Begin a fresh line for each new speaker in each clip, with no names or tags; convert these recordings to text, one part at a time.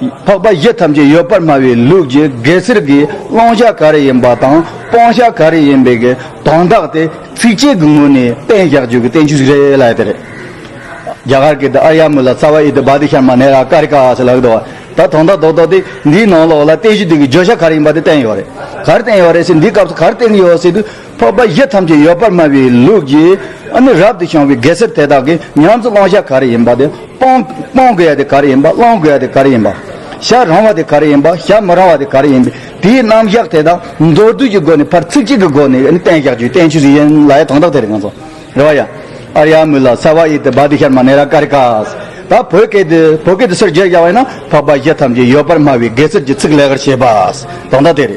འཕགས་པ་བཞི་ཐམས་ཅད་ཡོད་པར་སྨྲ་བའི་ལུགས་ཀྱི་གེ་སར་གྱི་བླང་བྱ་ག་རེ་ཡིན་པ་དང་སྤང་བྱ་ག་རེ་ཡིན་པའི་དོན་དག་དེ་ཚིགས་བཅད་ཀྱི་ངོས་ནས་གཏན་བཞག་བརྗོད་ཀྱི་བསྟན་བཅོས་ཤིག་རེད་ལ་དེ་རེད། རྒྱ་གར་གྱི་ཨ་རྱ་མུ་ལ་ཙཱ་བ་ཨི་ཏི་བཱ་ཏི་ཤར་མ་ནེ་ར་ཀ་རི་ཀ་ཨ་སི་ལ་ཨི་ཏི་བཱ། ད་དོན་དག་རྡོག་རྡོག་དེ་འདིའི་ནང་ལོགས་ལ་བསྟན་བཅོས་དེ་གའི་བརྗོད་བྱ་ག་རེ་ཡིན་པ་དེ་བསྟན་ཡོད་རེད། ག་རེ་བསྟན་ཡོད་རེད་ཟེར་འདིའི་སྐབས་སུ་ག་རེ་བསྟན་གྱི་ཡོད་ཟེར་དུས། འཕགས་པ་བཞི་ཐམས་ཅད་ཡོད་པར་སྨྲ་བའི་ལུགས་ཀྱིས་ནི་རབ་ཏུ་བྱུང་བའི་གེ་སར་དེ་དག་གི་ཉམས་སུ་བླང་བྱ་ག་རེ་ཡིན་པ་དེ་སྤང། སྤང་དགོས་ཡ་དེ་ག་རེ་ཡིན་པ་བླང་དགོས་ཡ་དེ་ག་རེ་ཡིན་པ། བྱ་རང་བ་དེ་ག་རེ་ཡིན་པ་བྱ་མི་རང་བ་དེ་ག་རེ་ཡིན་པའི་དེའི་རྣམ་བཞག་དེ་དག་མདོར་བསྡུས་ཀྱི་སྒོ་ནས་ཕར་ཚིག་གཅིག་གི་སྒོ་ནས་ནི་བསྟན་བཞག་བརྒྱུད་བསྟན་ཆོས་ཡན་ལག་ཡང་དང་དག་དེ་རེ་ང་ཚོ་རེ་བ་ཡ། ཨར་ཡ་མུ་ལ་སར་བ་ཨི་ཏི་བ་ཏི་ཤར་མ་ནེ་ར་ཀ་རི་ཀ། ད་བོད་སྐད་དུ་བོད་སྐད་དུ་སོར་བརྒྱད་བཞག་པ་ཡིན་ན་འཕགས་པ་བཞི་ཐམས་ཅད་ཡོད་པར་སྨྲ་བའི་གེ་སར་གྱི་ཚིག་ལེགས་པར་བྱས་པ་དང་དག་དེ་རེ།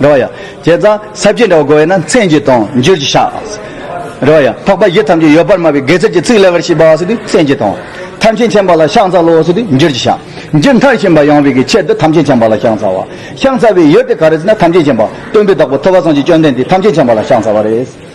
རེ་བ་ཡ། བྱས་ཙང་ས་བཅད་འདྲ་བ་གོ་བས་ན་མཚན་གྱིས་དང་བསྒྱུར་གྱིས་བྱ། རེ་བ་ཡ། འཕགས་པ་བཞི་ཐམས་ཅད་ཡོད་པར་སྨྲ་བའི་དགེ་རྩར་གྱི་ཚིག་ལེགས་པར་ཤེས་པ་སོགས་དུས་མཚན་གྱིས་དང། ཐམས་ཅད་མཁྱེན་པ་ལ་ཤངས་རྩ་ལོགས་སོགས་དུས་བསྒྱུར་གྱིས་བྱ། མཇུག་མཐར་ཤེས་པ་ཡང་བའི་གི་ཕྱིར་དུ་ཐམས་ཅད་མཁྱེན་པ་ལ་ཤངས་རྩ་བ། ཤངས་རྩ་བའི་ཡུལ་དེ་ག་རེ་ཟེར་ན་ཐམས་ཅད་མཁྱེན་པ་སྟོན་པའི་བདག་པོ་ཐུབ་པ་སངས་ཀྱིས་བཅོམ་ལྡན་འདས་ཐམས་ཅད་མཁྱེན་པ་ལ་ཤངས་རྩ་བ་རེད།